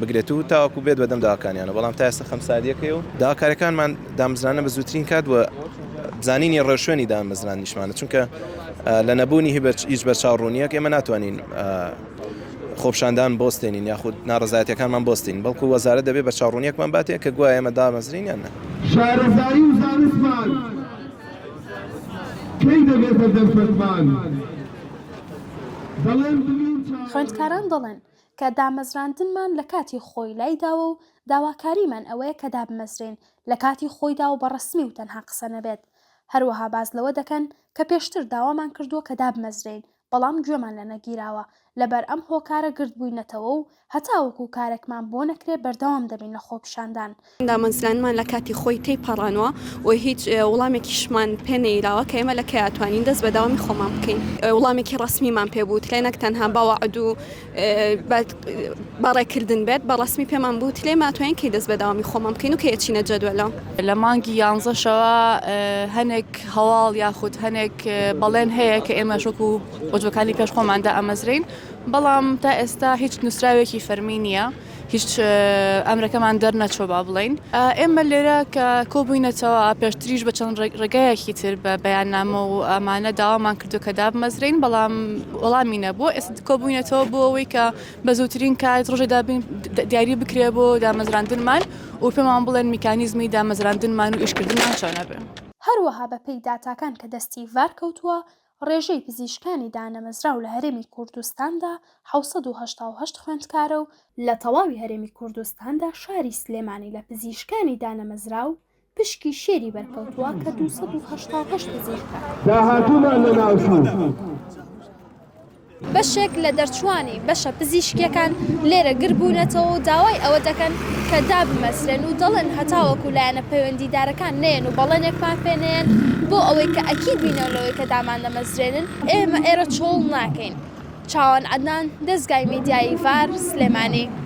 بگرێت و تاوەکو بێت بەدەم داواکانیانەوە، بەڵام تا ئێستا خەمساردییەکەی و داواکارییەکانمان دامەزراندنە بە زووترین کات و بزانینی ڕێوشوێنی دامەزراندنیشمانە، چونکە لە نەبوونی هیچ بەرچاو ڕوونییەک ئێمە ناتوانین خۆپیشاندان بوەستێنین یاخود ناڕەزایەتییەکانمان بوەستێنین، بەڵکو وەزارەت دەبێت بەرچاو ڕوونییەکمان باتێ کە گوایە ئێمە دامەزرێین یان نا. شارەزایی و زانستمان کەی دەبێتە دەرفەتمان؟ دەڵێن دڵی و چاوەڕێی. خوێندکاران دەڵێن، کە دامەزراندنمان لە کاتی خۆی لای داوە و داواکاریمان ئەوەیە کە دابمەزرێن لە کاتی خۆیدا و بە ڕەسمی و تەنها قسە نەبێت. هەروەها باس لەوە دەکەن کە پێشتر داوامان کردووە کە دابمەزرێین، بەڵام گوێمان لە نەگیراوە، لەبەر ئەم هۆکارە گردبووینەتەوە و هەتاوەکو کارێکمان بۆ نەکرێ بەردەوام دەبین لە خۆپیشاندان. دامەزرانمان لە کاتی خۆی تێپەڕاندوە و هیچ وڵامێکیشمان پێ نەیراوە کە ئێمە لە کەی ئەتوانین دەست بە داوامی خۆمان بکەین. وڵامێکی ڕەسمیمان پێ بوترێ نەک تەنها بە وەعد و بە ڕێکردن بێت، بە ڕەسمی پێمان بوترێ ئێمە ئەتوانین کەی دەست بە داوامی خۆمان بکەین و کەی ئەچینە جەدوەلە. لە مانگی یانزەشەوە هەنێک هەواڵ یاخود هەنێک بەڵێن هەیە کە ئێمەش وەکو بۆجۆکانی پێش خۆمان دائەمەزرێین، بەڵام تا ئێستا هیچ نوسراوێکی فەرمی نییە. هیچ ئەمرەکەمان دەرنەچوە با بڵین ئێمە لێرە کە کۆبووینەتەوە پێشتریش بە چەند ڕێگایەکی تر بە بەیاننامە و ئەمانە داوامان کردو کە دابمەزرین بەڵام وەڵامی نەبوو ئێست کۆبووینەتەوە بۆ ئەوەی کە بە زووترین کات ڕژێ دابین دیاری بکرێ بۆ دامەزراندنمان و پێمان بڵێن میکانیزمی دامەزراندنمان و ئیشکردنمان چۆنە بێ. هەروەها بەپێی داتاکان کە دەستی ڤار کەوتووە ڕێژەی پزیشکانی دانەمەزراو لە هەرێمی کوردستاندا حەوت سەد و هەشتا و هەشت خوێندکارە و، لە تەواوی هەرێمی کوردستاندا شاری سلێمانی لە پزیشکانی دانەمەزراو پشکی شێری بەرکەوتووە کە دوو سەد و هەشتا و هەشت پزیشکە. داهاتوومان لەناوچوو. بەشێک لە دەرچووانی بەشە پزیشکییەکان لێرە گردبوونەتەوە و داوای ئەوە دەکەن کە دابمەزرێن و دەڵێن هەتاوەکو لایەنە پەیوەندیدارەکان نەیەن و بەڵێنێکمان پێ نەیەن بۆ ئەوەی کە ئەکید بینەوە لەوەی کە داماندەمەزرێنن، ئێمە ئێرە چۆڵ ناکەین. چاوان عەدنان، دەزگای میدیایی ڤار، سلێمانی.